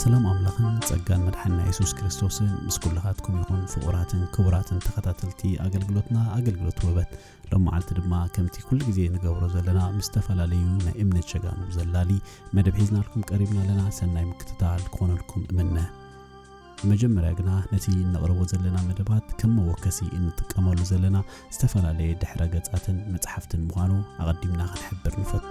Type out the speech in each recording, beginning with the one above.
ሰላም ኣምላኽን ጸጋን መድሓንና የሱስ ክርስቶስን ምስ ኩላኻትኩም ይኹን ፍቑራትን ክቡራትን ተኸታተልቲ ኣገልግሎትና ኣገልግሎት ውበት ሎም መዓልቲ ድማ ከምቲ ኩሉ ግዜ ንገብሮ ዘለና ምስ ዝተፈላለዩ ናይ እምነት ሸጋኑ ዘላሊ መደብ ሒዝናልኩም ቀሪብና ኣለና ሰናይ ምክትታል ክኾነልኩም እምነ ብመጀመርያ ግና ነቲ እነቕርቦ ዘለና መደባት ከም መወከሲ እንጥቀመሉ ዘለና ዝተፈላለየ ድሕረ ገጻትን መጽሓፍትን ምዃኑ ኣቐዲምና ክንሕብር ንፈቱ።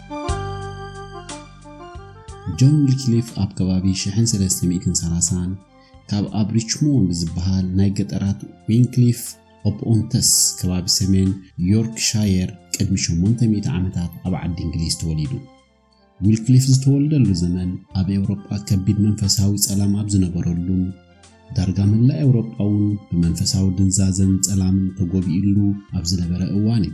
ጆን ዊልክሊፍ ኣብ ከባቢ 1330 ካብ ኣብ ሪችሞንድ ዝበሃል ናይ ገጠራት ዊንክሊፍ ኦፕ ኦንተስ ከባቢ ሰሜን ዮርክሻየር ቅድሚ 800 ዓመታት ኣብ ዓዲ እንግሊዝ ተወሊዱ። ዊልክሊፍ ዝተወልደሉ ዘመን ኣብ ኤውሮጳ ከቢድ መንፈሳዊ ጸላም ኣብ ዝነበረሉን ዳርጋ መላእ ኤውሮጳ እውን ብመንፈሳዊ ድንዛዘን ጸላምን ተጎቢኡሉ ኣብ ዝነበረ እዋን እዩ።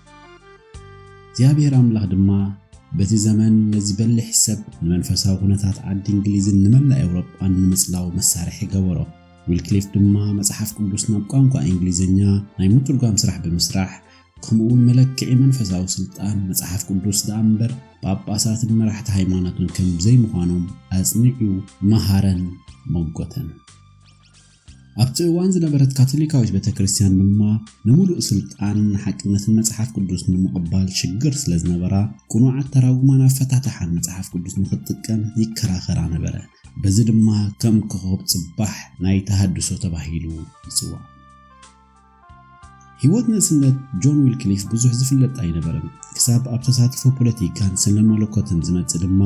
እግዚኣብሔር ኣምላኽ ድማ በዚ ዘመን ነዚ በሊሕ ሰብ ንመንፈሳዊ ኩነታት ዓዲ እንግሊዝን ንመላእ ኤውሮጳን ንምጽላው መሳርሒ ገበሮ። ዊልክሊፍ ድማ መጽሓፍ ቅዱስ ናብ ቋንቋ እንግሊዝኛ ናይ ምትርጓም ስራሕ ብምስራሕ ከምኡውን መለክዒ መንፈሳዊ ስልጣን መጽሓፍ ቅዱስ ደኣ እምበር ጳጳሳትን መራሕቲ ሃይማኖትን ከም ዘይምዃኖም ኣጽኒዑ መሃረን መጎተን። ኣብቲ እዋን ዝነበረት ካቶሊካዊት ቤተ ክርስቲያን ድማ ንምሉእ ስልጣንን ንሓቅነትን መጽሓፍ ቅዱስ ንምቕባል ሽግር ስለ ዝነበራ ቅኑዓት ተራጉማን ኣፈታትሓን መጽሓፍ ቅዱስ ንኽትጥቀም ይከራኸራ ነበረ። በዚ ድማ ከም ኮኾብ ጽባሕ ናይ ተሃድሶ ተባሂሉ ይጽዋዕ። ህይወት ንእስነት ጆን ዊልክሊፍ ብዙሕ ዝፍለጥ ኣይነበረን፣ ክሳብ ኣብ ተሳትፎ ፖለቲካን ስነ-መለኮትን ዝመጽእ ድማ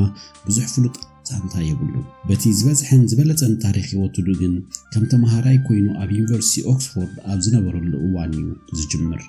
ብዙሕ ፍሉጥ ዛንታ የብሉን። በቲ ዝበዝሐን ዝበለጸን ታሪኽ ህይወቱዱ ግን ከም ተመሃራይ ኮይኑ ኣብ ዩኒቨርሲቲ ኦክስፎርድ ኣብ ዝነበረሉ እዋን'ዩ ዝጅምር።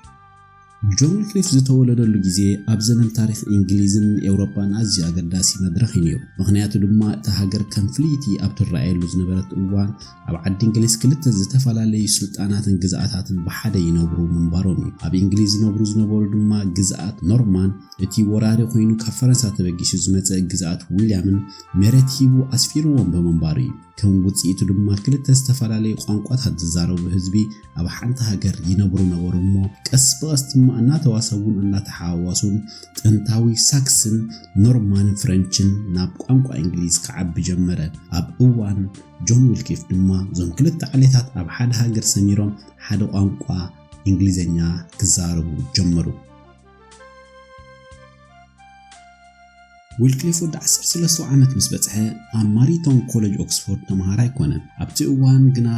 ጆን ዊክሊፍ ዝተወለደሉ ግዜ ኣብ ዘመን ታሪኽ ኢንግሊዝን ኤውሮጳን ኣዝዩ ኣገዳሲ መድረኽ እዩ ነይሩ። ምኽንያቱ ድማ እታ ሃገር ከም ፍልይቲ ኣብ ትረኣየሉ ዝነበረት እዋን ኣብ ዓዲ እንግሊዝ ክልተ ዝተፈላለዩ ስልጣናትን ግዝኣታትን ብሓደ ይነብሩ ምንባሮም እዩ። ኣብ ኢንግሊዝ ዝነብሩ ዝነበሩ ድማ ግዝኣት ኖርማን፣ እቲ ወራሪ ኮይኑ ካብ ፈረንሳ ተበጊሱ ዝመጸ ግዝኣት ዊልያምን መሬት ሂቡ ኣስፊርዎም ብምንባሩ እዩ። ከም ውጽኢቱ ድማ ክልተ ዝተፈላለዩ ቋንቋታት ዝዛረቡ ህዝቢ ኣብ ሓንቲ ሃገር ይነብሩ ነበሩ እሞ ቀስ ብቐስ ድማ እናተዋሰቡን እናተሓዋዋሱን ጥንታዊ ሳክስን ኖርማን ፍረንችን ናብ ቋንቋ እንግሊዝ ክዓቢ ጀመረ። ኣብ እዋን ጆን ዊልኪፍ ድማ እዞም ክልተ ዓሌታት ኣብ ሓደ ሃገር ሰሚሮም ሓደ ቋንቋ እንግሊዘኛ ክዛረቡ ጀመሩ። ዊልክሊፍ ወዲ ዓሰርተ ሰለስተ ዓመት ምስ በጽሐ ኣብ ማሪቶን ኮለጅ ኦክስፎርድ ተመሃራይ ኮነ። ኣብቲ እዋን ግና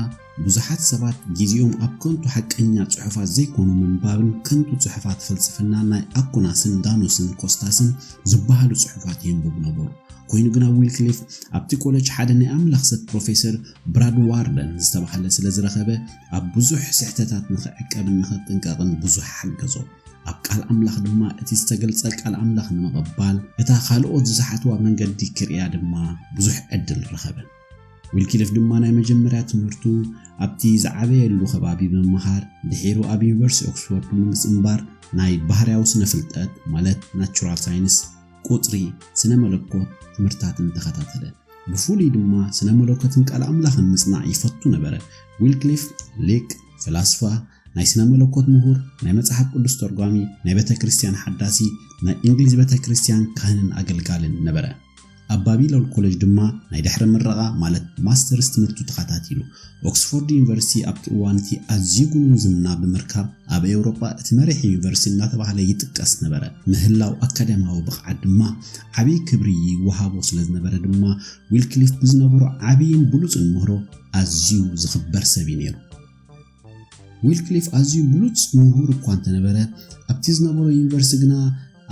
ብዙሓት ሰባት ግዜኦም ኣብ ከንቱ ሓቀኛ ጽሑፋት ዘይኮኑ ምንባብን ከንቱ ጽሑፋት ፍልስፍና ናይ ኣኩናስን ዳኖስን ኮስታስን ዝበሃሉ ጽሑፋት የንብቡ ነበሩ። ኮይኑ ግና ዊልክሊፍ ኣብቲ ኮለጅ ሓደ ናይ ኣምላኽ ሰብ ፕሮፌሰር ብራድ ዋርደን ዝተባህለ ስለ ዝረኸበ ኣብ ብዙሕ ስሕተታት ንኽዕቀብን ንኽጥንቀቕን ብዙሕ ሓገዞ። ኣብ ቃል ኣምላኽ ድማ እቲ ዝተገልጸ ቃል ኣምላኽ ንምቕባል እታ ካልኦት ዝሰሓትዋ መንገዲ ክርእያ ድማ ብዙሕ ዕድል ረኸበ። ዊልኪሊፍ ድማ ናይ መጀመርያ ትምህርቱ ኣብቲ ዝዓበየሉ ከባቢ ብምምሃር ድሒሩ ኣብ ዩኒቨርሲቲ ኦክስፎርድ ብምጽንባር ናይ ባህርያዊ ስነ ፍልጠት ማለት ናቹራል ሳይንስ፣ ቁጽሪ፣ ስነ መለኮት ትምህርትታትን ተኸታተለ። ብፍሉይ ድማ ስነ መለኮትን ቃል ኣምላኽን ምጽናዕ ይፈቱ ነበረ። ዊልክሊፍ ሊቅ፣ ፈላስፋ፣ ናይ ስነ መለኮት ምሁር፣ ናይ መጽሓፍ ቅዱስ ተርጓሚ፣ ናይ ቤተ ክርስቲያን ሓዳሲ፣ ናይ እንግሊዝ ቤተ ክርስቲያን ካህንን ኣገልጋልን ነበረ። ኣብ ባቢሎን ኮለጅ ድማ ናይ ድሕረ ምረቓ ማለት ማስተርስ ትምህርቱ ተኸታቲሉ። ኦክስፎርድ ዩኒቨርሲቲ ኣብቲ እዋን እቲ ኣዝዩ ግኑን ዝና ብምርካብ ኣብ ኤውሮጳ እቲ መሪሕ ዩኒቨርሲቲ እናተባህለ ይጥቀስ ነበረ። ምህላው ኣካዳሚያዊ ብቕዓት ድማ ዓብዪ ክብሪ ይወሃቦ ስለ ዝነበረ ድማ ዊልክሊፍ ብዝነበሮ ዓብዪን ብሉጽን ምህሮ ኣዝዩ ዝኽበር ሰብ እዩ ነይሩ። ዊልክሊፍ ኣዝዩ ብሉጽ ምሁር እኳ እንተ ነበረ፣ ኣብቲ ዝነበሮ ዩኒቨርሲቲ ግና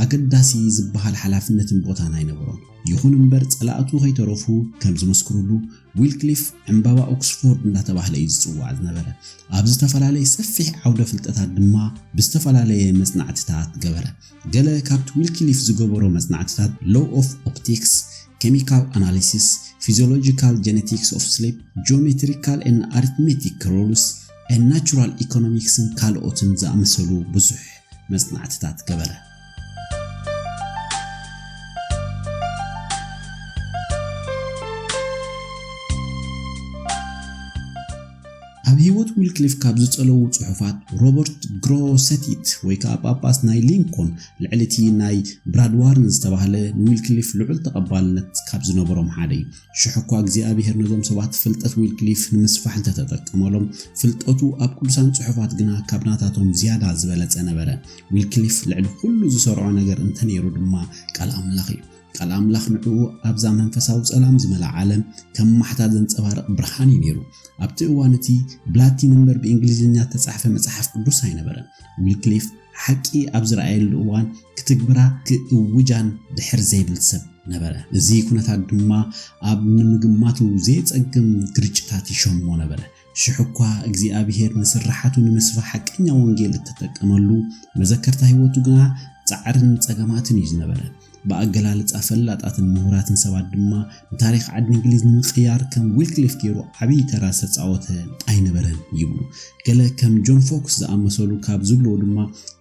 ኣገዳሲ ዝበሃል ሓላፍነትን ቦታን ኣይነበሮን። ይኹን እምበር፣ ጸላእቱ ከይተረፉ ከም ዝምስክሩሉ፣ ዊልክሊፍ ዕምባባ ኦክስፎርድ እንዳተባህለ እዩ ዝጽዋዕ ዝነበረ። ኣብ ዝተፈላለየ ሰፊሕ ዓውደ ፍልጠታት ድማ ብዝተፈላለየ መጽናዕቲታት ገበረ። ገለ ካብቲ ዊልኪሊፍ ዝገበሮ መጽናዕትታት ሎው ኦፍ ኦፕቲክስ፣ ኬሚካል ኣናሊሲስ፣ ፊዝዮሎጂካል ጀነቲክስ ኦፍ ስሊፕ፣ ጂኦሜትሪካል ኤን ኣሪትሜቲክ ሩልስ ኤን ናቹራል ኢኮኖሚክስን ካልኦትን ዝኣመሰሉ ብዙሕ መጽናዕትታት ገበረ። ኣብ ህይወት ዊልክሊፍ ካብ ዝጸለዉ ጽሑፋት ሮበርት ግሮሰቲት ወይ ከኣ ጳጳስ ናይ ሊንኮን ልዕሊ እቲ ናይ ብራድዋርን ዝተባህለ ንዊልክሊፍ ልዑል ተቐባልነት ካብ ዝነበሮም ሓደ እዩ። ሽሕ እኳ እግዚኣብሔር ነዞም ሰባት ፍልጠት ዊልክሊፍ ንምስፋሕ እንተ ተጠቀመሎም፣ ፍልጠቱ ኣብ ቅዱሳን ጽሑፋት ግና ካብ ናታቶም ዝያዳ ዝበለጸ ነበረ። ዊልክሊፍ ልዕሊ ዅሉ ዝሰርዖ ነገር እንተ ነይሩ ድማ ቃል ኣምላኽ እዩ። ቃል ኣምላኽ ንዕኡ ኣብዛ መንፈሳዊ ጸላም ዝመልኣ ዓለም ከም ማሕታ ዘንጸባርቕ ብርሃን እዩ ነይሩ። ኣብቲ እዋን እቲ ብላቲን እምበር ብእንግሊዝኛ እተጻሕፈ መጽሓፍ ቅዱስ ኣይነበረን። ዊልክሊፍ ሓቂ ኣብ ዝረኣየሉ እዋን ክትግብራ ክእውጃን ድሕር ዘይብል ሰብ ነበረ። እዚ ኩነታት ድማ ኣብ ንምግማቱ ዘየጸግም ግርጭታት ይሸሞ ነበረ። ሽሕኳ እግዚኣብሄር ንስርሓቱ ንምስፋሕ ሓቀኛ ወንጌል እተጠቀመሉ፣ መዘከርታ ህይወቱ ግና ጻዕርን ጸገማትን እዩ ዝነበረ። ብኣገላልጻ ፈላጣትን ምሁራትን ሰባት ድማ ንታሪኽ ዓዲ እንግሊዝ ንምቕያር ከም ዊልክሊፍ ገይሩ ዓብዪ ተራ ዝተጻወተ ኣይነበረን ይብሉ። ገለ ከም ጆን ፎክስ ዝኣመሰሉ ካብ ዝብልዎ ድማ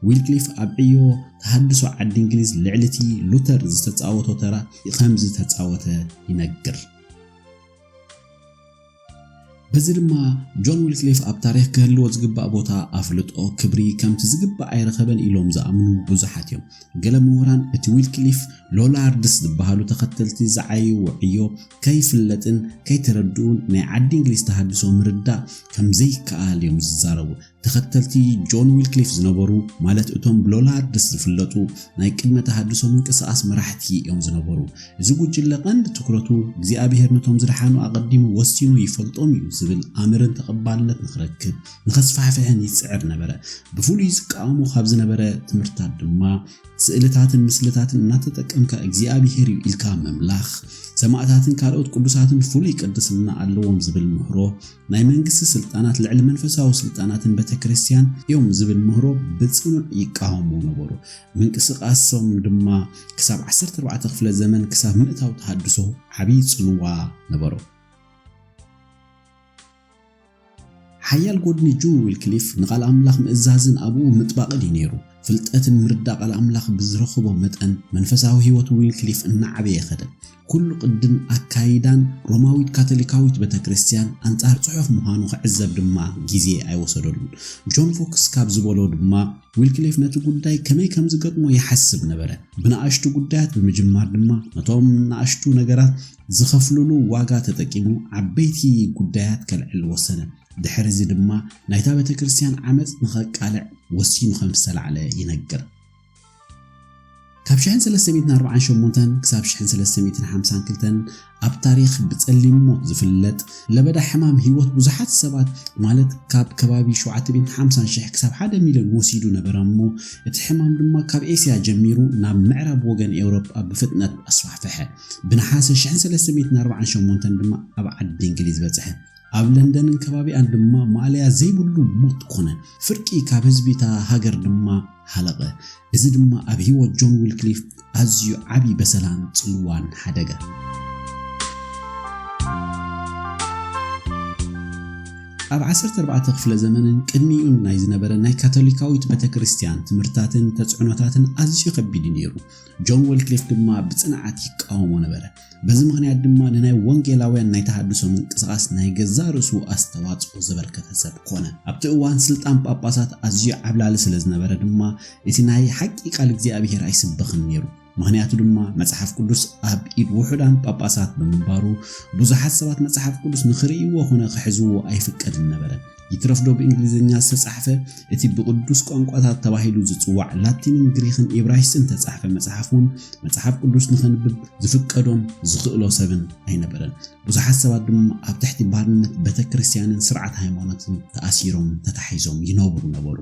ዊልክሊፍ ኣብ ዕዮ ተሃድሶ ዓዲ እንግሊዝ ልዕሊ እቲ ሉተር ዝተጻወቶ ተራ ከም ዝተጻወተ ይነግር። በዚ ድማ ጆን ዊልክሊፍ ኣብ ታሪኽ ክህልዎ ዝግባእ ቦታ ኣፍልጦ ክብሪ ከምቲ ዝግባእ ኣይረኸበን ኢሎም ዝኣምኑ ብዙሓት እዮም ገለ ምሁራን እቲ ዊልክሊፍ ሎላርድስ ዝበሃሉ ተኸተልቲ ዝዓይዎ ዕዮ ከይፍለጥን ከይተረድኡን ናይ ዓዲ እንግሊዝ ተሃድሶ ምርዳእ ከም ዘይከኣል እዮም ዝዛረቡ ተኸተልቲ ጆን ዊልክሊፍ ዝነበሩ ማለት እቶም ብሎላርድስ ዝፍለጡ ናይ ቅድመ ተሃድሶ ምንቅስቓስ መራሕቲ እዮም ዝነበሩ። እዚ ጉጅለ ቀንዲ ትኩረቱ እግዚኣብሄር ነቶም ዝደሓኑ ኣቐዲሙ ወሲኑ ይፈልጦም እዩ ዝብል ኣምርን ተቐባልነት ንኽረክብ ንኸስፋሕፍሕን ይጽዕር ነበረ። ብፍሉይ ዝቃወሞ ካብ ዝነበረ ትምህርትታት ድማ ስእልታትን ምስልታትን እናተጠቀምካ እግዚኣብሄር እዩ ኢልካ ምምላኽ፣ ሰማእታትን ካልኦት ቅዱሳትን ፍሉይ ቅድስና ኣለዎም ዝብል ምህሮ፣ ናይ መንግስቲ ስልጣናት ልዕሊ መንፈሳዊ ስልጣናትን ቤተክርስትያን እዮም ዝብል ምህሮ ብጽኑዕ ይቃወሙ ነበሩ። ምንቅስቓሶም ድማ ክሳብ ዓሰርተ ኣርባዕተ ክፍለ ዘመን ክሳብ ምእታው ተሃድሶ ዓብዪ ጽልዋ ነበሮ። ሓያል ጎድኒ ጁን ዊልክሊፍ ንቓል ኣምላኽ ምእዛዝን ኣብኡ ምጥባቕን እዩ ነይሩ። ፍልጠትን ምርዳእ ቃል ኣምላኽ ብዝረኽቦ መጠን መንፈሳዊ ህይወት ዊልክሊፍ እናዓበየ ከደ። ኩሉ ቅድን ኣካይዳን ሮማዊት ካቶሊካዊት ቤተክርስትያን ኣንጻር ጽሑፍ ምዃኑ ክዕዘብ ድማ ግዜ ኣይወሰደሉን። ጆን ፎክስ ካብ ዝበሎ ድማ ዊልክሊፍ ነቲ ጉዳይ ከመይ ከም ዝገጥሞ ይሓስብ ነበረ። ብንኣሽቱ ጉዳያት ብምጅማር ድማ ነቶም ንኣሽቱ ነገራት ዝኸፍልሉ ዋጋ ተጠቂሙ ዓበይቲ ጉዳያት ከልዕል ወሰነ። ድሕሪ እዚ ድማ ናይታ ቤተክርስትያን ዓመጽ ንኸቃልዕ ወሲኑ ከም ዝተላዕለ ይነግር። ካብ ሽሕን ሰለስተ ሚእትን ኣርብዓን ሸሞንተን ክሳብ ሽሕን ሰለስተ ሚእትን ሓምሳን ክልተን ኣብ ታሪኽ ብጸሊም ሞት ዝፍለጥ ለበዳ ሕማም ህይወት ብዙሓት ሰባት ማለት ካብ ከባቢ ሸውዓተ ሚእትን ሓምሳን ሽሕ ክሳብ ሓደ ሚልዮን ወሲዱ ነበረ እሞ እቲ ሕማም ድማ ካብ ኤስያ ጀሚሩ ናብ ምዕራብ ወገን ኤውሮጳ ብፍጥነት ኣስፋሕፈሐ ብነሓሰ ሽሕን ሰለስተ ሚእትን ኣርብዓን ሸሞንተን ድማ ኣብ ዓዲ እንግሊዝ በጽሐ ኣብ ለንደንን ከባቢኣን ድማ ማእለያ ዘይብሉ ሞት ኮነ ፍርቂ ካብ ህዝቢ እታ ሃገር ድማ ሃለቐ፣ እዚ ድማ ኣብ ህይወት ጆን ዊልክሊፍ ኣዝዩ ዓቢ በሰላን ጽልዋን ሓደገ። ኣብ ዓሰርተ ኣርባዕተ ክፍለ ዘመንን ቅድሚኡን ናይ ዝነበረ ናይ ካቶሊካዊት ቤተ ክርስቲያን ትምህርታትን ተጽዕኖታትን ኣዝዩ ከቢድ እዩ ነይሩ። ጆን ወልክሊፍ ድማ ብጽንዓት ይቃወሞ ነበረ። በዚ ምኽንያት ድማ ንናይ ወንጌላውያን ናይ ተሃድሶ ምንቅስቓስ ናይ ገዛእ ርእሱ ኣስተዋጽኦ ዘበርከተ ሰብ ኮነ። ኣብቲ እዋን ስልጣን ጳጳሳት ኣዝዩ ዓብላሊ ስለ ዝነበረ ድማ እቲ ናይ ሓቂ ቃል እግዚኣብሄር ኣይስበኽን ነይሩ። ምኽንያቱ ድማ መጽሓፍ ቅዱስ ኣብ ኢድ ውሑዳን ጳጳሳት ብምንባሩ ብዙሓት ሰባት መጽሓፍ ቅዱስ ንኽርእይዎ ዀነ ክሕዝዎ ኣይፍቀድን ነበረ። ይትረፍ ዶ ብእንግሊዝኛ ዝተጻሕፈ፣ እቲ ብቕዱስ ቋንቋታት ተባሂሉ ዝጽዋዕ ላቲንን ግሪኽን ኢብራይስጥን እተጻሕፈ መጽሓፍ እውን መጽሓፍ ቅዱስ ንኸንብብ ዝፍቀዶን ዝኽእሎ ሰብን ኣይነበረን። ብዙሓት ሰባት ድማ ኣብ ትሕቲ ባርነት ቤተ ክርስቲያንን ስርዓት ሃይማኖትን ተኣሲሮምን ተታሒዞምን ይነብሩ ነበሩ።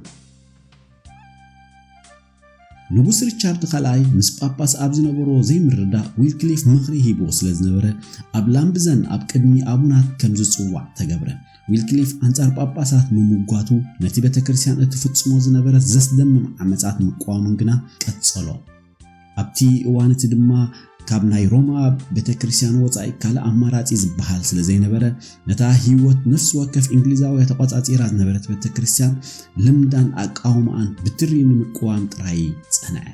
ንጉስ ሪቻርድ ካልኣይ ምስ ጳጳስ ኣብ ዝነበሮ ዘይምርዳእ ዊልክሊፍ ምኽሪ ሂብዎ ስለ ዝነበረ ኣብ ላምብዘን ኣብ ቅድሚ ኣቡናት ከም ዝጽዋዕ ተገብረ። ዊልክሊፍ ኣንጻር ጳጳሳት ምምጓቱ ነቲ ቤተ ክርስቲያን እትፍጽሞ ዝነበረት ዘስደምም ዓመጻት ምቅዋሙን ግና ቀጸሎ። ኣብቲ እዋን እቲ ድማ ካብ ናይ ሮማ ቤተክርስትያን ወጻኢ ካልእ ኣማራጺ ዝበሃል ስለ ዘይነበረ ነታ ህይወት ነፍሲ ወከፍ እንግሊዛውያ ተቖጻጺራ ዝነበረት ቤተክርስትያን ልምዳን ኣቃውማኣን ብትሪ ንምቅዋም ጥራይ ጸንዐ።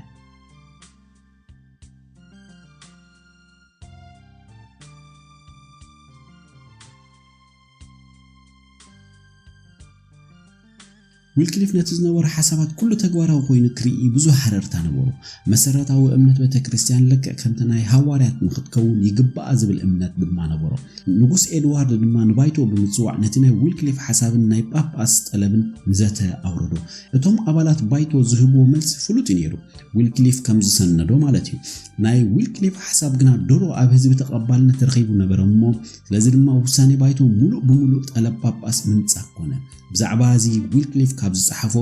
ዊልክሊፍ ነቲ ዝነበሮ ሓሳባት ኩሉ ተግባራዊ ኮይኑ ክርኢ ብዙሕ ሃረርታ ነበሮ። መሰረታዊ እምነት ቤተ ክርስቲያን ልክዕ ከምቲ ናይ ሃዋርያት ንክትከውን ይግባኣ ዝብል እምነት ድማ ነበሮ። ንጉስ ኤድዋርድ ድማ ንባይቶ ብምጽዋዕ ነቲ ናይ ዊልክሊፍ ሓሳብን ናይ ጳጳስ ጠለብን ንዘተ ኣውረዶ። እቶም ኣባላት ባይቶ ዝህብዎ መልሲ ፍሉጥ እዩ ነይሩ፣ ዊልክሊፍ ከም ዝሰነዶ ማለት እዩ። ናይ ዊልክሊፍ ሓሳብ ግና ድሮ ኣብ ህዝቢ ተቐባልነት ረኺቡ ነበረ እሞ ስለዚ ድማ ውሳኔ ባይቶ ሙሉእ ብሙሉእ ጠለብ ጳጳስ ምንጻግ ኮነ። ብዛዕባ እዚ ዊልክሊፍ ካብ ዝጸሓፎ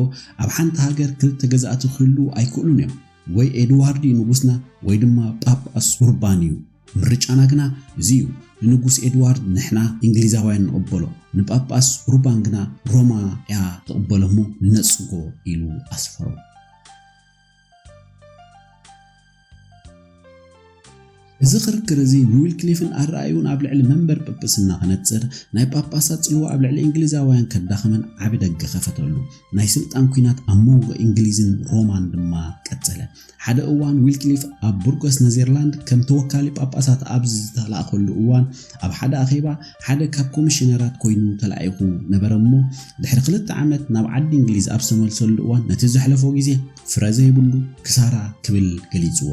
ኣብ ሓንቲ ሃገር ክልተ ገዛእቲ ክህልዉ ኣይክእሉን እዮም፣ ወይ ኤድዋርድ እዩ ንጉስና ወይ ድማ ጳጳስ ኡርባን እዩ። ምርጫና ግና እዚ እዩ፣ ንንጉስ ኤድዋርድ ንሕና እንግሊዛውያን ንቕበሎ፣ ንጳጳስ ኡርባን ግና ሮማ እያ ትቕበሎ እሞ ንነጽጎ ኢሉ ኣስፈሮ። እዚ ክርክር እዚ ንዊልክሊፍን ኣረኣእዩኡን ኣብ ልዕሊ መንበር ጵጵስና ከነጽር፣ ናይ ጳጳሳት ጽልዋ ኣብ ልዕሊ እንግሊዛውያን ከዳኽመን ዓቢ ደገ ከፈተሉ። ናይ ስልጣን ኲናት ኣብ መንጎ እንግሊዝን ሮማን ድማ ቀጸለ። ሓደ እዋን ዊልክሊፍ ኣብ ቡርጎስ ነዘርላንድ ከም ተወካሊ ጳጳሳት ኣብ ዝተላእከሉ እዋን ኣብ ሓደ ኣኼባ ሓደ ካብ ኮሚሽነራት ኮይኑ ተላኢኹ ነበረ'ሞ፣ ድሕሪ ክልተ ዓመት ናብ ዓዲ እንግሊዝ ኣብ ዝተመልሰሉ እዋን ነቲ ዘሕለፎ ግዜ ፍረ ዘይብሉ ክሳራ ክብል ገሊጽዎ።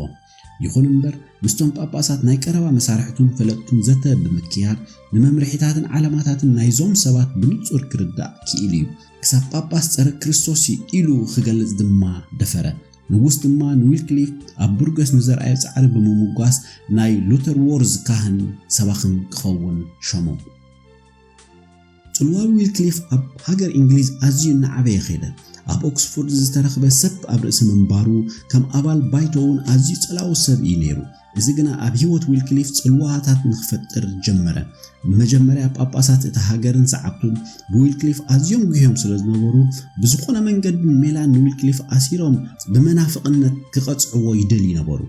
ይኹን እምበር፣ ምስቶም ጳጳሳት ናይ ቀረባ መሳርሕቱን ፈለጥቱን ዘተ ብምክያድ፣ ንመምርሒታትን ዓላማታትን ናይዞም ሰባት ብንጹር ክርዳእ ክኢሉ'ዩ። ክሳብ ጳጳስ ጸረ ክርስቶስ'ዩ ኢሉ ክገልጽ ድማ ደፈረ። ንጉስ ድማ ንዊልክሊፍ ኣብ ቡርገስ ንዘርኣዮ ጻዕሪ ብምምጓስ ናይ ሉተርዎርዝ ካህን ሰባኽን ክኸውን ሾሞ። ጽልዋ ዊልክሊፍ ኣብ ሃገር እንግሊዝ ኣዝዩ እናዓበየ ከይደ። ኣብ ኦክስፎርድ ዝተረኽበ ሰብ ኣብ ርእሲ ምንባሩ፣ ከም ኣባል ባይቶ እውን ኣዝዩ ጸላዊ ሰብ ኢዩ ነይሩ። እዚ ግና ኣብ ህይወት ዊልክሊፍ ጽልዋታት ንኽፈጥር ጀመረ። መጀመርያ ጳጳሳት እታ ሃገርን ሰዓብቱን ብዊልክሊፍ ኣዝዮም ጒህዮም ስለ ዝነበሩ፣ ብዝዀነ መንገድን ሜላን ንዊልክሊፍ ኣሲሮም ብመናፍቕነት ክቐጽዕዎ ይደልዩ ነበሩ።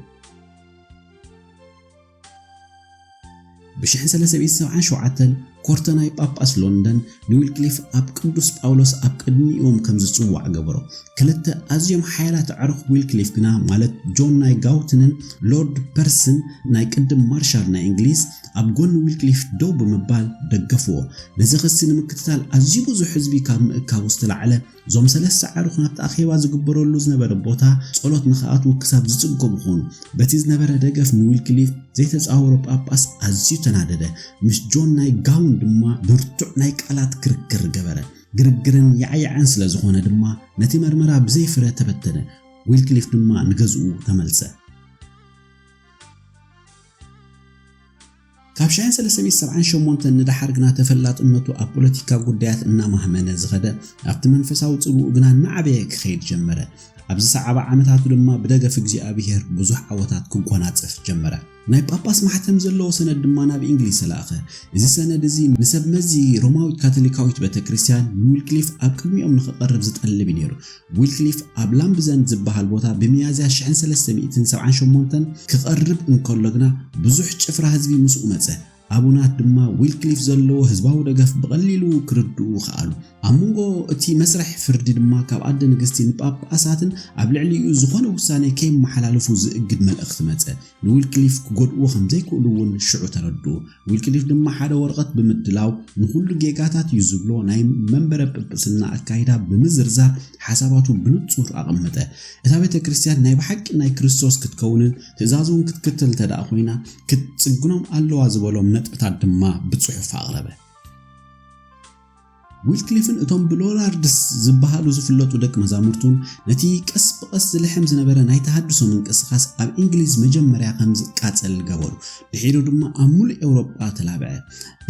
ብሽሕን ሰለስተ ሚእትን ሰብዓን ሸውዓተን ኮርተናይ ጳጳስ ሎንደን ንዊልክሊፍ ኣብ ቅዱስ ጳውሎስ ኣብ ቅድሚኦም ከም ዝጽዋዕ ገበሮ። ክልተ ኣዝዮም ሓያላት ኣዕሩኽ ዊልክሊፍ ግና ማለት ጆን ናይ ጋውትንን ሎርድ ፐርስን ናይ ቅድም ማርሻል ናይ እንግሊዝ ኣብ ጎኒ ዊልክሊፍ ደው ብምባል ደገፍዎ። ነዚ ክሲ ንምክትታል ኣዝዩ ብዙሕ ህዝቢ ካብ ምእካቡ ዝተላዕለ እዞም ሰለስተ ዓርኹ ናብቲ ኣኼባ ዝግበረሉ ዝነበረ ቦታ ጸሎት ንኽኣትዉ ክሳብ ዝጽገሙ ዀኑ። በቲ ዝነበረ ደገፍ ንዊልክሊፍ ዘይተጻወሮ ጳጳስ ኣዝዩ ተናደደ፣ ምስ ጆን ናይ ጋውን ድማ ብርቱዕ ናይ ቃላት ክርክር ገበረ። ግርግርን ያዕያዕን ስለ ዝዀነ ድማ ነቲ መርመራ ብዘይ ፍረ ተበተነ፣ ዊልክሊፍ ድማ ንገዝኡ ተመልሰ። ካብ ሻዕን ሰለስተ ሚእቲ ሰብዓን ሸሞንተን ንደሓር ግና ተፈላጥነቱ ኣብ ፖለቲካ ጉዳያት እናማህመነ ዝኸደ፣ ኣብቲ መንፈሳዊ ጽልውኡ ግና እናዓበየ ክኸይድ ጀመረ። ኣብ ዝሰዓባ ዓመታቱ ድማ ብደገፍ እግዚኣብሄር ብዙሕ ዓወታት ክጎናጸፍ ጀመረ። ናይ ጳጳስ ማሕተም ዘለዎ ሰነድ ድማ ናብ እንግሊዝ ተላእከ። እዚ ሰነድ እዚ ንሰብ መዚ ሮማዊት ካቶሊካዊት ቤተ ክርስቲያን ንዊልክሊፍ ኣብ ቅድሚኦም ንኽቐርብ ዝጠልብ እዩ ነይሩ። ዊልክሊፍ ኣብ ላምብዘንድ ዝበሃል ቦታ ብሚያዝያ ሽሕን ሰለስተ ሚእትን ሰብዓን ሸሞንተን ክቐርብ እንከሎ ግና ብዙሕ ጭፍራ ህዝቢ ምስኡ መጸ። ኣቡናት ድማ ዊልክሊፍ ዘለዎ ህዝባዊ ደገፍ ብቐሊሉ ክርድኡ ከኣሉ። ኣብ መንጎ እቲ መስርሕ ፍርዲ ድማ ካብ ኣደ ንግስቲ ንጳጳሳትን ኣብ ልዕሊኡ ዝኾነ ውሳኔ ከየመሓላልፉ ዝእግድ መልእኽቲ መጸ። ንዊልክሊፍ ክጎድእዎ ከም ዘይክእሉ እውን ሽዑ ተረድኡ። ዊልክሊፍ ድማ ሓደ ወረቐት ብምድላው፣ ንዅሉ ጌጋታት እዩ ዝብሎ ናይ መንበረ ጵጵስና ኣካይዳ ብምዝርዛር ሓሳባቱ ብንጹር ኣቐመጠ። እታ ቤተ ክርስቲያን ናይ ብሓቂ ናይ ክርስቶስ ክትከውንን ትእዛዙ እውን ክትክተል እንተ ደኣ ኰይና ክትጽግኖም ኣለዋ ዝበሎም ነጥብታት ድማ ብጽሑፍ ኣቕረበ። ዊትክሊፍን እቶም ብሎላርድስ ዝበሃሉ ዝፍለጡ ደቂ መዛሙርቱን ነቲ ቀስ ብቐስ ዝልሕም ዝነበረ ናይ ተሃድሶ ምንቅስቓስ ኣብ እንግሊዝ መጀመርያ ከም ዝቃጸል ገበሩ። ድሒሩ ድማ ኣብ ምሉእ ኤውሮጳ ተላብዐ።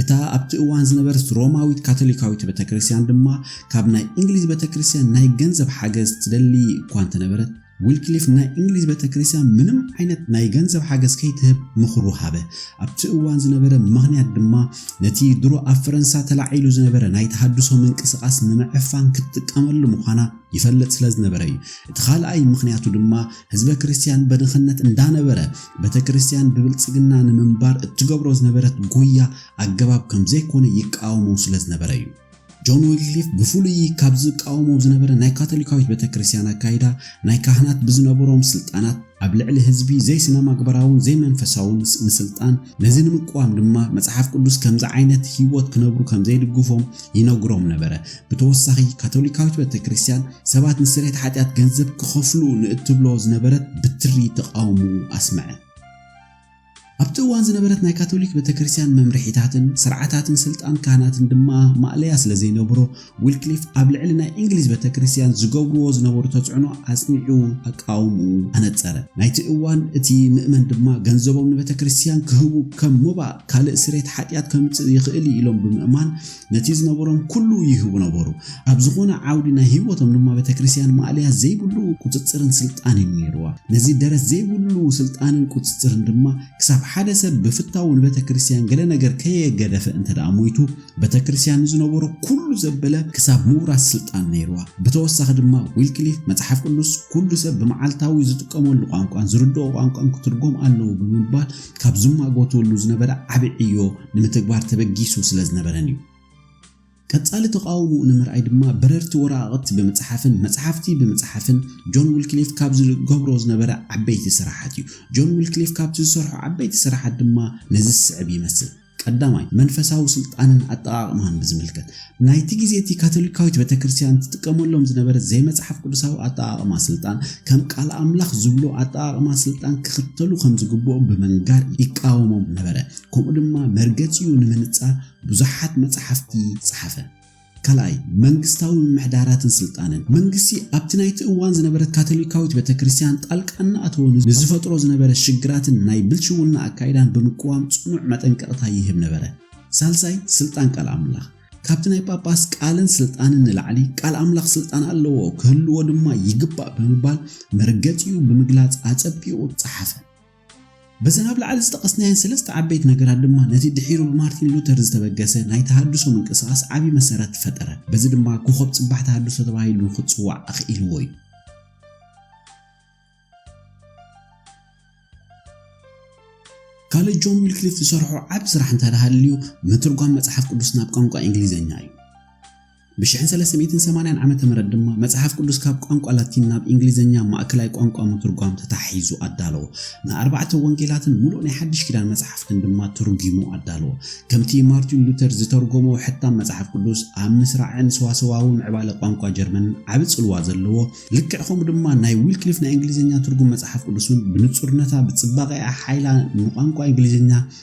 እታ ኣብቲ እዋን ዝነበረት ሮማዊት ካቶሊካዊት ቤተ ክርስቲያን ድማ ካብ ናይ እንግሊዝ ቤተ ክርስቲያን ናይ ገንዘብ ሓገዝ ትደሊ እኳ እንተነበረት ዊልክሊፍ ናይ እንግሊዝ ቤተክርስትያን ምንም ዓይነት ናይ ገንዘብ ሓገዝ ከይትህብ ምኽሩ ሃበ። ኣብቲ እዋን ዝነበረ ምኽንያት ድማ ነቲ ድሮ ኣብ ፈረንሳ ተላዒሉ ዝነበረ ናይ ተሃድሶ ምንቅስቓስ ንምዕፋን ክትጥቀመሉ ምዃና ይፈልጥ ስለ ዝነበረ እዩ። እቲ ካልኣይ ምኽንያቱ ድማ ህዝበ ክርስትያን በድኽነት እንዳነበረ ቤተክርስትያን ብብልጽግና ንምንባር እትገብሮ ዝነበረት ጉያ ኣገባብ ከም ዘይኮነ ይቃወሞ ስለ ዝነበረ እዩ። ጆን ዊክሊፍ ብፍሉይ ካብ ዝቃወሞ ዝነበረ ናይ ካቶሊካዊት ቤተ ክርስቲያን ኣካይዳ ናይ ካህናት ብዝነበሮም ስልጣናት ኣብ ልዕሊ ህዝቢ ዘይስነማግበራውን ዘይመንፈሳውን ምስልጣን ነዚ ንምቅዋም ድማ መጽሓፍ ቅዱስ ከምዚ ዓይነት ህይወት ክነብሩ ከም ዘይድግፎም ይነግሮም ነበረ። ብተወሳኺ ካቶሊካዊት ቤተ ክርስቲያን ሰባት ንስርየት ሓጢኣት ገንዘብ ክኸፍሉ ንእትብሎ ዝነበረት ብትሪ ተቓውምኡ ኣስመዐ። ኣብቲ እዋን ዝነበረት ናይ ካቶሊክ ቤተክርስትያን መምርሒታትን ስርዓታትን ስልጣን ካህናትን ድማ ማእለያ ስለ ዘይነብሮ ዊልክሊፍ ኣብ ልዕሊ ናይ እንግሊዝ ቤተክርስትያን ዝገብርዎ ዝነበሩ ተጽዕኖ ኣጽኒዑ ኣቃውምኡ ኣነጸረ። ናይቲ እዋን እቲ ምእመን ድማ ገንዘቦም ንቤተክርስትያን ክህቡ ከም ሞባእ ካልእ ስሬት ሓጢኣት ከምጽእ ይኽእል እዩ ኢሎም ብምእማን ነቲ ዝነበሮም ኩሉ ይህቡ ነበሩ። ኣብ ዝኾነ ዓውዲ ናይ ህይወቶም ድማ ቤተክርስቲያን ማእለያ ዘይብሉ ቁጽጽርን ስልጣን እዩ ነይርዋ። ነዚ ደረት ዘይብሉ ስልጣንን ቁጽጽርን ድማ ክሳብ ሓደ ሰብ ብፍታዉ ንቤተክርስቲያን ገለ ነገር ከየገደፈ እንተደኣ ሞይቱ ቤተክርስቲያን ንዝነበሮ ኩሉ ዘበለ ክሳብ ምውራስ ስልጣን ነይርዋ። ብተወሳኺ ድማ ዊልክሊፍ መጽሓፍ ቅዱስ ኩሉ ሰብ ብመዓልታዊ ዝጥቀመሉ ቋንቋን ዝርድኦ ቋንቋን ክትርጎም ኣለዎ ብምባል ካብ ዝማጎትወሉ ዝነበረ ዓቢ ዕዮ ንምትግባር ተበጊሱ ስለ ዝነበረን እዩ። ቀጻሊ ተቓውሞኡ ንምርኣይ ድማ በረርቲ ወረቓቕቲ ብምጽሓፍን መጽሓፍቲ ብምጽሓፍን ጆን ዊልክሊፍ ካብ ዝገብሮ ዝነበረ ዓበይቲ ስራሓት እዩ። ጆን ዊልክሊፍ ካብቲ ዝሰርሖ ዓበይቲ ስራሓት ድማ ነዚ ዝስዕብ ይመስል። ቀዳማይ፣ መንፈሳዊ ስልጣንን ኣጠቓቕማን ብዝምልከት፣ ናይቲ ግዜ እቲ ካቶሊካዊት ቤተክርስትያን ትጥቀመሎም ዝነበረት ዘይመጽሓፍ ቅዱሳዊ ኣጠቓቕማ ስልጣን፣ ከም ቃል ኣምላኽ ዝብሎ ኣጠቓቕማ ስልጣን ክኽተሉ ከም ዝግብኦም ብምንጋር ይቃወሞም ነበረ፣ ከምኡ ድማ መርገጺኡ ንምንጻር ብዙሓት መጽሓፍቲ ጸሓፈ። ካልኣይ፣ መንግስታዊ ምምሕዳራትን ስልጣንን። መንግስቲ ኣብቲ ናይቲ እዋን ዝነበረት ካቶሊካዊት ቤተክርስትያን ጣልቃ እናኣተወ ንዝፈጥሮ ዝነበረ ሽግራትን ናይ ብልሽውና ኣካይዳን ብምቅዋም ጽኑዕ መጠንቀቕታ ይህብ ነበረ። ሳልሳይ፣ ስልጣን ቃል ኣምላኽ። ካብቲ ናይ ጳጳስ ቃልን ስልጣንን ንላዕሊ ቃል ኣምላኽ ስልጣን ኣለዎ፣ ክህልዎ ድማ ይግባእ ብምባል መርገጺኡ ብምግላጽ ኣጸቢቑ ጸሓፈ። በዘን ኣብ ላዕሊ ዝጠቐስናየን ሰለስተ ዓበይቲ ነገራት ድማ ነቲ ድሒሩ ብማርቲን ሉተር ዝተበገሰ ናይ ተሃድሶ ምንቅስቓስ ዓቢ መሰረት ፈጠረ። በዚ ድማ ኮኾብ ጽባሕ ተሃድሶ ተባሂሉ ንኽጽዋዕ ኣኽኢልዎ እዩ። ካልእ ጆን ዊልክሊፍ ዝሰርሖ ዓቢ ስራሕ እንተደሃልዩ ምትርጓም መጽሓፍ ቅዱስ ናብ ቋንቋ እንግሊዝኛ እዩ። ብሽሕን ሰለስተ ሚእትን ሰማንያን ዓመተ ምህረት ድማ መጽሓፍ ቅዱስ ካብ ቋንቋ ላቲን ናብ እንግሊዘኛ ማእከላይ ቋንቋ ምትርጓም ተታሒዙ ኣዳለዎ። ንኣርባዕተ ወንጌላትን ምሉእ ናይ ሓድሽ ኪዳን መጻሕፍትን ድማ ተርጒሙ ኣዳለዎ። ከምቲ ማርቲን ሉተር ዝተርጐሞ ሕታም መጽሓፍ ቅዱስ ኣብ ምስራዕን ሰዋሰዋዊ ምዕባለ ቋንቋ ጀርመንን ዓቢ ጽልዋ ዘለዎ፣ ልክዕ ከምኡ ድማ ናይ ዊልክሊፍ ናይ እንግሊዘኛ ትርጉም መጽሓፍ ቅዱስ እውን ብንጹርነታ ብጽባቐኣ ሓይላ ንቋንቋ እንግሊዘኛ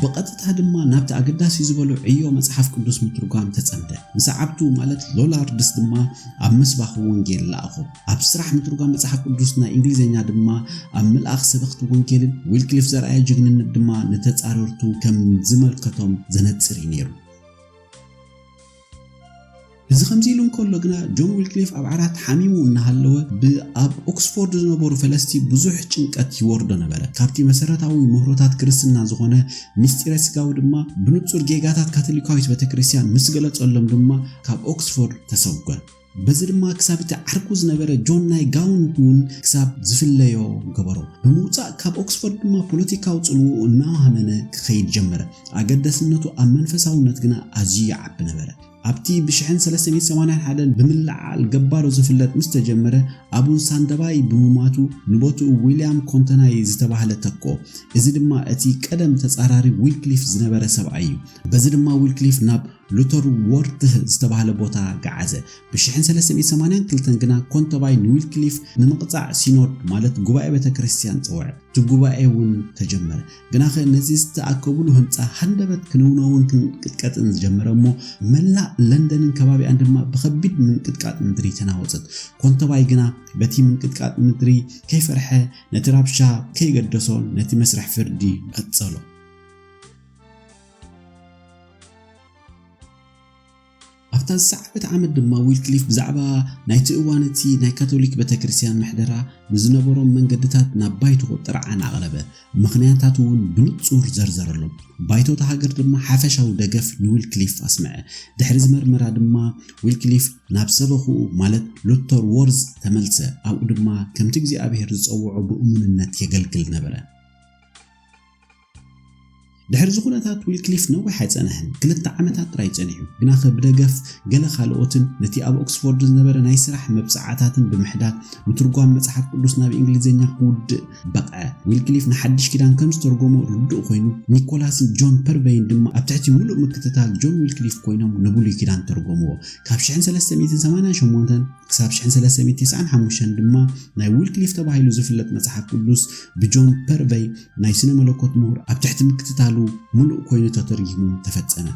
ብቐጥታ ድማ ናብቲ ኣገዳሲ ዝበሎ ዕዮ መጽሓፍ ቅዱስ ምትርጓም ተጸምደ። ንሰዓብቱ ማለት ሎላርድስ ድማ ኣብ ምስባኽ ወንጌል ለኣኾም። ኣብ ስራሕ ምትርጓም መጽሓፍ ቅዱስ ናይ እንግሊዝኛ ድማ ኣብ ምልኣኽ ሰበኽቲ ወንጌልን ዊልክሊፍ ዘርኣዮ ጅግንነት ድማ ንተጻረርቱ ከም ዝመልከቶም ዘነጽር እዩ ነይሩ። እዚ ከምዚ ኢሉ እንከሎ ግና ጆን ዊልክሊፍ ኣብ ዓራት ሓሚሙ እናሃለወ ብኣብ ኦክስፎርድ ዝነበሩ ፈለስቲ ብዙሕ ጭንቀት ይወርዶ ነበረ። ካብቲ መሰረታዊ ምህሮታት ክርስትና ዝኾነ ምስጢረ ስጋዊ ድማ ብንጹር ጌጋታት ካቶሊካዊት ቤተክርስትያን ምስ ገለጸሎም ድማ ካብ ኦክስፎርድ ተሰጎን። በዚ ድማ ክሳብ እቲ ዓርኩ ዝነበረ ጆን ናይ ጋውንት እውን ክሳብ ዝፍለዮ ገበሮ። ብምውጻእ ካብ ኦክስፎርድ ድማ ፖለቲካዊ ጽልውኡ እናሃመነ ክኸይድ ጀመረ። ኣገዳስነቱ ኣብ መንፈሳውነት ግና ኣዝዩ ይዓቢ ነበረ። ኣብቲ ብሽሕን ሰለስተ ሚእቲ ሰማንያን ሓደን ብምልዕዓል ገባሮ ዝፍለጥ ምስ ተጀመረ፣ ኣቡን ሳንደባይ ብምሟቱ ንቦትኡ ዊልያም ኮንተናይ ዝተባህለ ተክኦ። እዚ ድማ እቲ ቀደም ተጻራሪ ዊክሊፍ ዝነበረ ሰብኣይ እዩ። በዚ ድማ ዊልክሊፍ ናብ ሉተር ወርትህ ዝተባህለ ቦታ ገዓዘ። ብ1382 ግና ኮንተባይ ንዊልክሊፍ ንምቕጻዕ ሲኖድ ማለት ጉባኤ ቤተ ክርስቲያን ጸውዐ። እቲ ጉባኤ እውን ተጀመረ። ግናኸ ነዚ ዝተኣከቡሉ ህንጻ ሃንደበት ክንውነውን ክንቅጥቀጥን ዝጀመረ እሞ መላእ ለንደንን ከባቢኣን ድማ ብኸቢድ ምንቅጥቃጥ ምድሪ ተናወጸት። ኮንተባይ ግና በቲ ምንቅጥቃጥ ምድሪ ከይፈርሐ ነቲ ራብሻ ከይገደሶ ነቲ መስርሕ ፍርዲ ቀጸሎ። ኣብታ ዝሰዓበት ዓመት ድማ ዊልክሊፍ ብዛዕባ ናይቲ እዋን እቲ ናይ ካቶሊክ ቤተ ክርስቲያን ምሕደራ ንዝነበሮም መንገድታት ናብ ባይቶ ጥርዓን ኣቕረበ ምኽንያታት እውን ብንጹር ዘርዘረሎም ባይቶት ሃገር ድማ ሓፈሻዊ ደገፍ ንዊልክሊፍ ኣስምዐ ድሕሪ ዝመርመራ ድማ ዊልክሊፍ ናብ ሰበኽኡ ማለት ሉተር ዎርዝ ተመልሰ ኣብኡ ድማ ከምቲ እግዚኣብሔር ዝጸውዖ ብእሙንነት የገልግል ነበረ ድሕርዚ ኩነታት ዊልክሊፍ ነዊሕ ኣይጸንሐን፣ ክልተ ዓመታት ጥራይ ጸኒሑ፣ ግናኸ ብደገፍ ገለ ካልኦትን ነቲ ኣብ ኦክስፎርድ ዝነበረ ናይ ስራሕ መብጽዓታትን ብምሕዳግ ምትርጓም መጽሓፍ ቅዱስ ናብ እንግሊዝኛ ክውድእ በቕዐ። ዊልክሊፍ ንሓድሽ ኪዳን ከም ዝተርጎሞ ርዱእ ኰይኑ፣ ኒኮላስን ጆን ፐርቨይን ድማ ኣብ ትሕቲ ምሉእ ምክትታል ጆን ዊልክሊፍ ኰይኖም ንብሉይ ኪዳን ተርጐምዎ። ካብ ሽሕን ሰለስተ ሚእትን ሰማንያን ሸሞንተን ክሳብ ሽሕን ሰለስተ ሚእትን ትስዓን ሓሙሽተን ድማ ናይ ዊልክሊፍ ተባሂሉ ዝፍለጥ መጽሓፍ ቅዱስ ብጆን ፐርቨይ ናይ ስነ መለኮት ምሁር ኣብ ትሕቲ ምክትታሉ ምሉእ ኮይኑ ተተርጒሙ ተፈጸመ።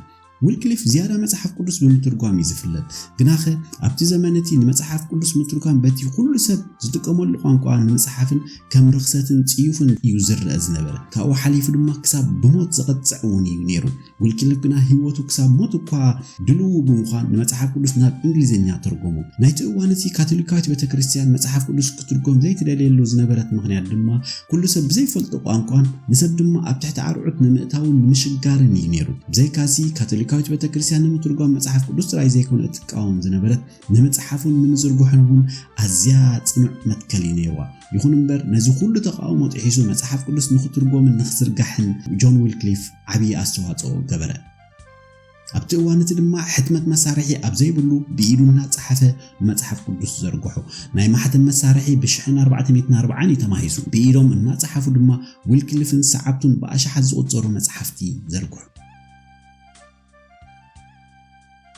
ዊልክሊፍ ዝያዳ መጽሓፍ ቅዱስ ብምትርጓም እዩ ዝፍለጥ። ግናኸ ኣብቲ ዘመን እቲ ንመጽሓፍ ቅዱስ ምትርጓም በቲ ዅሉ ሰብ ዝጥቀመሉ ቋንቋ ንምጽሓፍን ከም ርኽሰትን ጽዩፍን እዩ ዝርኣ ዝነበረ፣ ካብኡ ሓሊፉ ድማ ክሳብ ብሞት ዘቕጽዕ እውን እዩ ነይሩ። ውልቂ ልግና ህይወቱ ክሳብ ሞት እኳ ድልዉ ብምዃን ንመጽሓፍ ቅዱስ ናብ እንግሊዝኛ ተርጎሞ። ናይቲ እዋን እቲ ካቶሊካዊት ቤተ ክርስቲያን መጽሓፍ ቅዱስ ክትርጎም ዘይትደልየሉ ዝነበረት ምኽንያት ድማ ኩሉ ሰብ ብዘይፈልጦ ቋንቋን ንሰብ ድማ ኣብ ትሕቲ ኣርዑት ንምእታውን ንምሽጋርን እዩ ነይሩ። ብዘይካዚ ካቶሊካዊት ቤተ ክርስቲያን ንምትርጓም መጽሓፍ ቅዱስ ጥራይ ዘይኮነ እትቃወም ዝነበረት ንምጽሓፉን ንምዝርግሑን እውን ኣዝያ ጽኑዕ መትከል እዩ ነይርዋ። ይኹን እምበር፣ ነዚ ዅሉ ተቓውሞ ጥሒሱ መጽሓፍ ቅዱስ ንኽትርጐምን ንኽዝርጋሕን ጆን ዊልክሊፍ ዓብዪ ኣስተዋጽኦ ገበረ። ኣብቲ እዋን እቲ ድማ ሕትመት መሳርሒ ኣብ ዘይብሉ ብኢዱ እናጸሓፈ ንመጽሓፍ ቅዱስ ዘርግሖ። ናይ ማሕተም መሳርሒ ብሽሕን ኣርባዕተሚእትን ኣርብዓን እዩ ተማሂዙ። ብኢዶም እናጸሓፉ ድማ ዊልክሊፍን ሰዓብቱን ብኣሽሓት ዝቝጸሩ መጻሕፍቲ ዘርግሑ።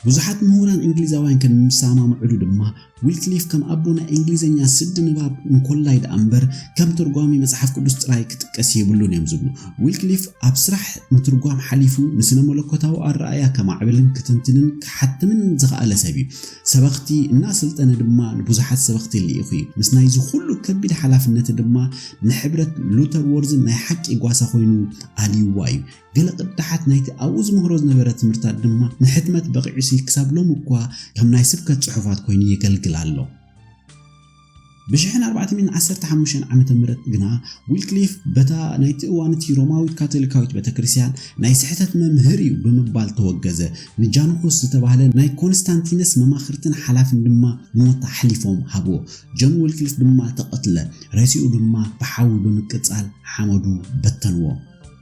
ብዙሓት ምሁራን እንግሊዛውያን ከም ዝሰማምዕሉ ድማ ዊልክሊፍ ከም ኣቦ ናይ እንግሊዝኛ ስዲ ንባብ እንኮላይ ደኣ እምበር ከም ትርጓሚ መጽሓፍ ቅዱስ ጥራይ ክጥቀስ የብሉን እዮም ዝብሉ ዊልክሊፍ ኣብ ስራሕ ምትርጓም ሓሊፉ ንስነ መለኮታዊ ኣረኣያ ከማዕብልን ክትንትንን ክሓትምን ዝኸኣለ ሰብ እዩ ሰበኽቲ እናሰልጠነ ድማ ንብዙሓት ሰበኽቲ ልኢኹ እዩ ምስ ናይዚ ኩሉ ከቢድ ሓላፍነት ድማ ንሕብረት ሉተር ወርዝን ናይ ሓቂ ጓሳ ኮይኑ ኣልይዋ እዩ ገለ ቅዳሓት ናይቲ ኣብኡ ዝምህሮ ዝነበረ ትምህርታት ድማ ንሕትመት በቒዑሲ ክሳብ ሎሚ እኳ ከም ናይ ስብከት ጽሑፋት ኮይኑ የገልግል ኣሎ። ብ1415 ዓመተ ምህረት ግና ዊልክሊፍ በታ ናይቲ እዋን እቲ ሮማዊት ካቶሊካዊት ቤተክርስትያን ናይ ስሕተት መምህር እዩ ብምባል ተወገዘ። ንጃንኩስ ዝተባህለ ናይ ኮንስታንቲነስ መማኽርትን ሓላፍን ድማ ንሞት ኣሕሊፎም ሃብዎ። ጆን ዊልክሊፍ ድማ ተቐትለ፣ ሬስኡ ድማ ብሓዊ ብምቅጻል ሓመዱ በተንዎ።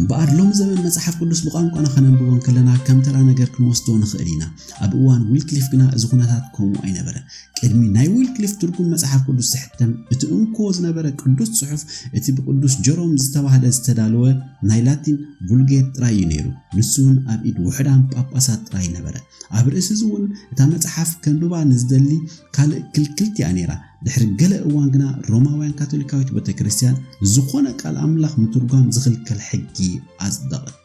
እምበኣር ሎሚ ዘበን መጽሓፍ ቅዱስ ብቋንቋና ከነንብቦ ከለና ከም ተራ ነገር ክንወስዶ ንኽእል ኢና ኣብ እዋን ዊልክሊፍ ግና እዚ ኩነታት ከምኡ ኣይነበረን ቅድሚ ናይ ዊልክሊፍ ትርጉም መጽሓፍ ቅዱስ ዝሕተም እቲ እንኮ ዝነበረ ቅዱስ ጽሑፍ እቲ ብቅዱስ ጀሮም ዝተባህለ ዝተዳለወ ናይ ላቲን ቡልጌት ጥራይ እዩ ነይሩ። ንሱ እውን ኣብ ኢድ ውሑዳን ጳጳሳት ጥራይ ነበረ። ኣብ ርእሲ እዚ እውን እታ መጽሓፍ ከንብባ ንዝደሊ ካልእ ክልክልቲ እያ ነይራ። ድሕሪ ገለ እዋን ግና ሮማውያን ካቶሊካዊት ቤተ ክርስቲያን ንዝኾነ ቃል ኣምላኽ ምትርጓም ዝኽልከል ሕጊ ኣጽደቐት።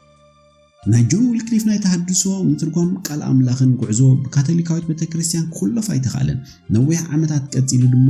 ናይ ጆን ዊልክሊፍ ናይ ተሃድሶ ምትርጓም ቃል ኣምላኽን ጉዕዞ ብካቶሊካዊት ቤተ ክርስቲያን ክኹለፍ ኣይተኻእለን። ነዊሕ ዓመታት ቀጺሉ ድማ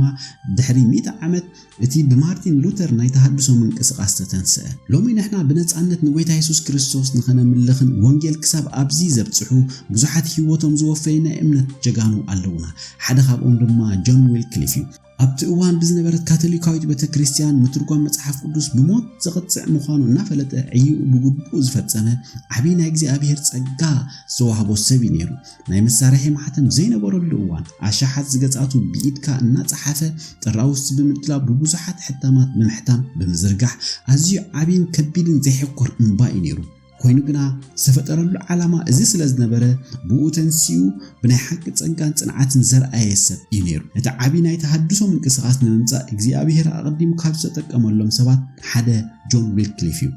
ድሕሪ ሚእቲ ዓመት እቲ ብማርቲን ሉተር ናይ ተሃድሶ ምንቅስቓስ ተተንስአ። ሎሚ ንሕና ብነጻነት ንጎይታ የሱስ ክርስቶስ ንኸነምልኽን ወንጌል ክሳብ ኣብዚ ዘብጽሑ ብዙሓት ህይወቶም ዝወፈዩ ናይ እምነት ጀጋኑ ኣለዉና። ሓደ ካብኦም ድማ ጆን ዊልክሊፍ እዩ። ኣብቲ እዋን ብዝነበረት ካቶሊካዊት ቤተ ክርስቲያን ምትርጓም መጽሓፍ ቅዱስ ብሞት ዘቕጽዕ ምዃኑ እናፈለጠ ዕይኡ ብግቡእ ዝፈጸመ ዓብዪ ናይ እግዚኣብሔር ጸጋ ዝተዋህቦ ሰብ እዩ ነይሩ። ናይ መሳርሒ ማሕተም ዘይነበረሉ እዋን ኣሻሓት ዝገጻቱ ብኢድካ እናጸሓፈ ጥራውስቲ ብምድላው ብብዙሓት ሕታማት ብምሕታም ብምዝርጋሕ ኣዝዩ ዓብይን ከቢድን ዘይሕኮር እምባ እዩ ነይሩ። ኮይኑ ግና ዝተፈጠረሉ ዓላማ እዚ ስለ ዝነበረ ብኡ ተንሲኡ ብናይ ሓቂ ጸጋን ጽንዓትን ዘርኣየ ሰብ እዩ ነይሩ። ነቲ ዓቢ ናይ ተሃድሶ ምንቅስቓስ ንምምጻእ እግዚኣብሄር ኣቐዲሙ ካብ ዝተጠቀመሎም ሰባት ሓደ ጆን ዊልክሊፍ እዩ።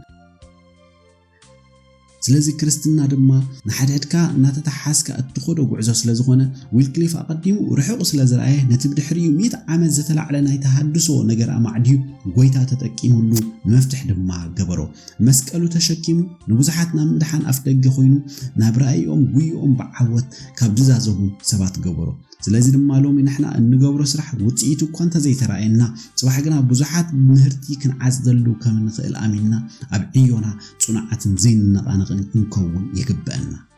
ስለዚ ክርስትና ድማ ንሓድሕድካ እናተተሓሓዝካ እትኸዶ ጉዕዞ ስለ ዝኾነ ዊልክሊፍ ኣቐዲሙ ርሑቕ ስለ ዝረኣየ ነቲ ብድሕሪኡ ሚእቲ ዓመት ዝተላዕለ ናይ ተሃድሶ ነገር ኣማዕድዩ ጎይታ ተጠቂሙሉ ንመፍትሕ ድማ ገበሮ። መስቀሉ ተሸኪሙ ንብዙሓት ናብ ምድሓን ኣፍደገ ኮይኑ ናብ ራእይኦም ጉይኦም ብዓወት ካብ ዝዛዘሙ ሰባት ገበሮ። ስለዚ ድማ ሎሚ ንሕና እንገብሮ ስራሕ ውጽኢቱ እኳ እንተዘይተራእየና ጽባሕ ግና ብዙሓት ምህርቲ ክንዓጽደሉ ከም እንኽእል ኣሚንና ኣብ ዕዮና ጽኑዓትን ዘይንነቓነቕን ክንከውን ይግበእና።